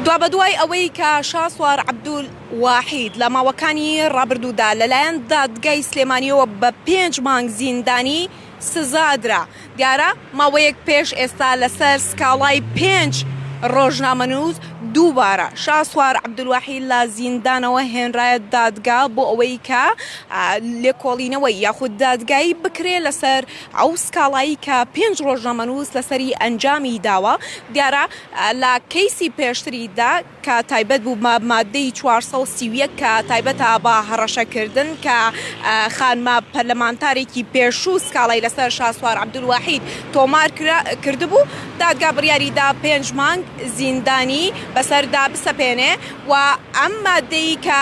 دوابەدوای ئەوەی کە شاسوار عەبدول واحید لە ماوەکانی ڕابردوودا لەلایەن دادگای سلێمانیەوە بە پێنج مانگ زیندانی سزادرا دیارە ماوەیەک پێش ئێستا لەسەر سکاڵای پێنج ڕۆژنامەنووس دووبارە شاسوار عبدواحی لە زیندانەوە هێنرایە دادگا بۆ ئەوەی کە لێکۆڵینەوەی یاخود دادگایی بکرێ لەسەر ئەو سکاڵایەی کە پێنج ڕۆژنامەنووس لەسەری ئەنجامی داوە، دیارە لە کەیسی پێشتریدا کە تایبەت بوو بە ماددەی چوار سەد و سی و یەک کە تایبەتە بە هەڕەشەکردن کە خانمە پەرلەمانتارێکی پێشوو سکاڵای لەسەر شاسوار عەبدولواحید تۆمار کردبوو، دادگا بڕیاری دا پێنج مانگ زیندانی بەسەردا بسەپێنێ و ئەم ماددەی کە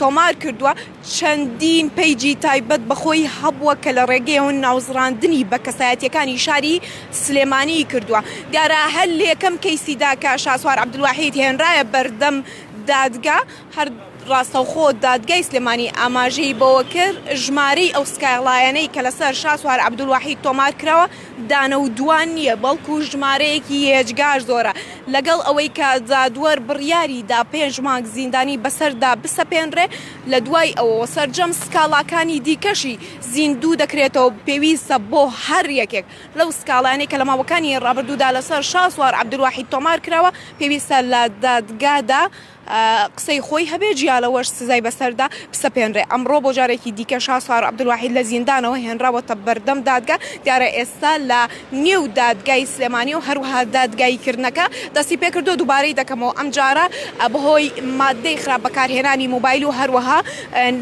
تۆمار کردووە، چەندین پەیجی تایبەت بە خۆی هەبووە کە لە ڕێگەیەوە ناوزڕاندنی بە کەسایەتییەکانی شاری سلێمانیی کردووە. دیارە هەر لەیەکەم کەیسیدا کە شاسوار عەبدولواحید هێنرایە بەردەم دادگا، هەر ڕاستەوخۆ دادگای سلێمانی ئاماژەی بەوە کرد، ژمارەی ئەو سکاڵایانەی کە لەسەر شاسوار عەبدولواحید تۆمار کراوە، دانە و دوان نییە، بەڵکو ژمارەیەکی ئێجگار زۆرە. لەگەڵ ئەوەی کە جادوەر بڕیاری دا پێنج مانگ زیندانی بەسەردا بسەپێنرێ، لە دوای ئەوەوە سەرجەم سکاڵاکانی دیکەشی زیندوو دەکرێتەوە، پێویستە بۆ هەر یەکێک لەو سکاڵایانەی کە لە ماوەکانی ڕابردوودا لەسەر شاسوار عەبدولواحید تۆمار کراوە، پێویستە لە دادگادا قسەی خۆی هەبێ، جیا لەوەش سزای بەسەردا بسەپێنرێ. ئەمڕۆ بۆ جارێکی دیکە شاسوار عەبدولواحید لە زیندانەوە هێنراوەتە بەردەم دادگا، دیارە ئێستا لە نێو دادگای سلێمانی و هەروەها دادگاییکردنەکە دەستی پێکردووە، دووبارەی دەکەمەوە ئەمجارە بەهۆی ماددەی خراپ بەکارهێنانی مۆبایل و هەروەها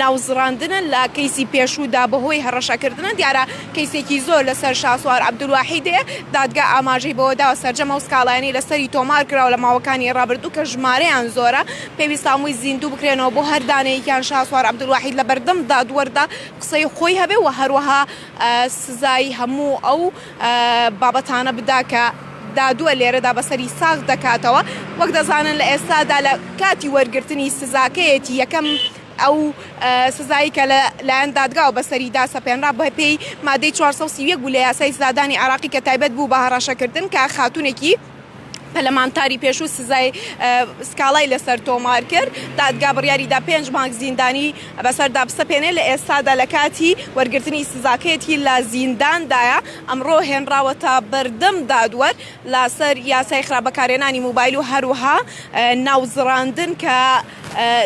ناوزڕاندنە لە کەیسی پێشوودا بەهۆی هەڕەشەکردنە، دیارە. کەیسێکی زۆر لەسەر شاسوار عەبدولواحید هەیە، دادگا ئاماژەی بەوەداوە سەرجەم ئەو سکاڵایانەی لەسەری تۆمارکراوە لە ماوەکانی ڕابردوو کە ژمارەیان زۆرە، پێویستە هەمووی زیندوو بکرێنەوە بۆ هەر دانەیەکیان شاسوار عەبدولواحید لەبەردەم دادوەردا قسەی خۆی هەبێ و هەروەها سزای هەموو ئەو بابەتانە بدا کە دادوەر لێرەدا بەسەری ساغ دەکاتەوە، وەک دەزانن لە ئێستادا لە کاتی وەرگرتنی سزاکەیەتی، یەکەم. ئەو سزایەی کە لە لایەن دادگاوە بەسەریدا سەپێنرا بەپێی مادەی چوار سەد و سی و یەک بوو لە یاسای سزادانی عێراقی کە تایبەت بوو بە هەڕەشەکردن کە خاتوونێکی پەرلەمانتاری پێشوو سزای سکاڵای لەسەر تۆمار کرد دادگا بڕیاریدا پێنج مانگ زیندانی بەسەردا بسەپێنێ لە ئێستادا لە کاتی وەرگرتنی سزاکەیەتی لە زینداندایە ئەمڕۆ هێنراوەتە بەردەم دادوەر لەسەر یاسای خراپ بەکارهێنانی موبایل و هەروەها ناوزڕاندن کە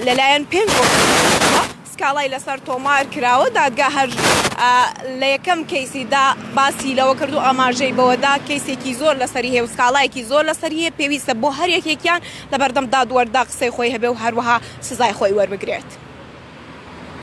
لەلایەن پێنج ئۆفیسەرەوە سکاڵای لەسەر تۆمار کراوە دادگا هەر لە یەکەم کەیسیدا باسی لەوە کردو ئاماژەی بەوەدا کەیسێکی زۆر لەسەری هەیە و سکاڵایەکی زۆر لەسەر هەیە پێویستە بۆ هەر یەکێکیان لەبەردەم دادوەردا قسەی خۆی هەبێ و هەروەها سزای خۆی وەربگرێت.